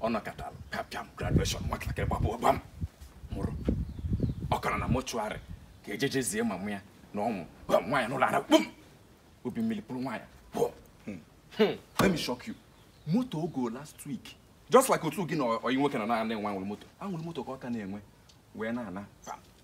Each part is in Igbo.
ọ nọkatara kapịam graduation nwatakịrị gbapụ gbam nwụrụ ọ ka nọ na mortuary ka e jeje zie mama ya na ọ nwụọ gwa nwaanyị n'ụlọ ara kpum obi mmiri pụrụ nwaanyị pụọ hmm. Hmm. let me shock you moto ọ go last week just like otu gị na oyi nwoke na na-enwe anwụrị moto anwụrị moto ka ọ ka na-enwe wee na-ana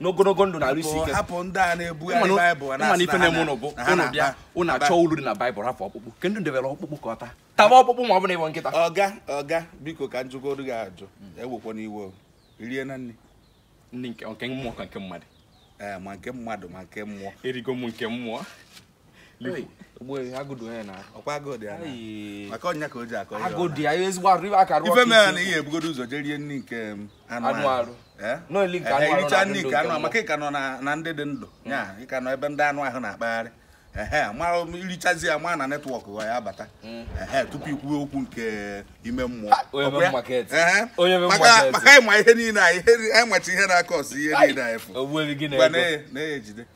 n'ogologo ndụ na arụ isi ike hapụ ndị a na-ebugharị baịbụl na ife na-eme ụnụ bụ ụnụ bịa ụnụ achọ uru dị na baịbụl hapụ ọkpụkpụ ke ndị debere ọkpụkpụ ka ọ taa taba ọkpụkpụ ma ọ bụ na ị bụ nkịta oga oga biko ka m jụgodu gị ajụ ewekwana iwe i riena nri nri nke mmụọ ka nke mmadụ ee ma nke mmadụ ma nke mmụọ erigo m nke mmụọ ife mere na ị ya-ebugodo ụzọ jee rie nri nke um, anụ arụ ericha nri nke anụ maka ị ka nọ na ndị dị ndụ ya ị ka nọ ebe ndị anụ ahụ na-akpagharị mara um, i richazie ya ma na network ya abata mm. tupu i kwuwe okwu nke ime mmụọ ah, maka ị ma ihe niile anyị ịmachi ihe na-akọ ọsụ ihe niile anyị fụ na-ejide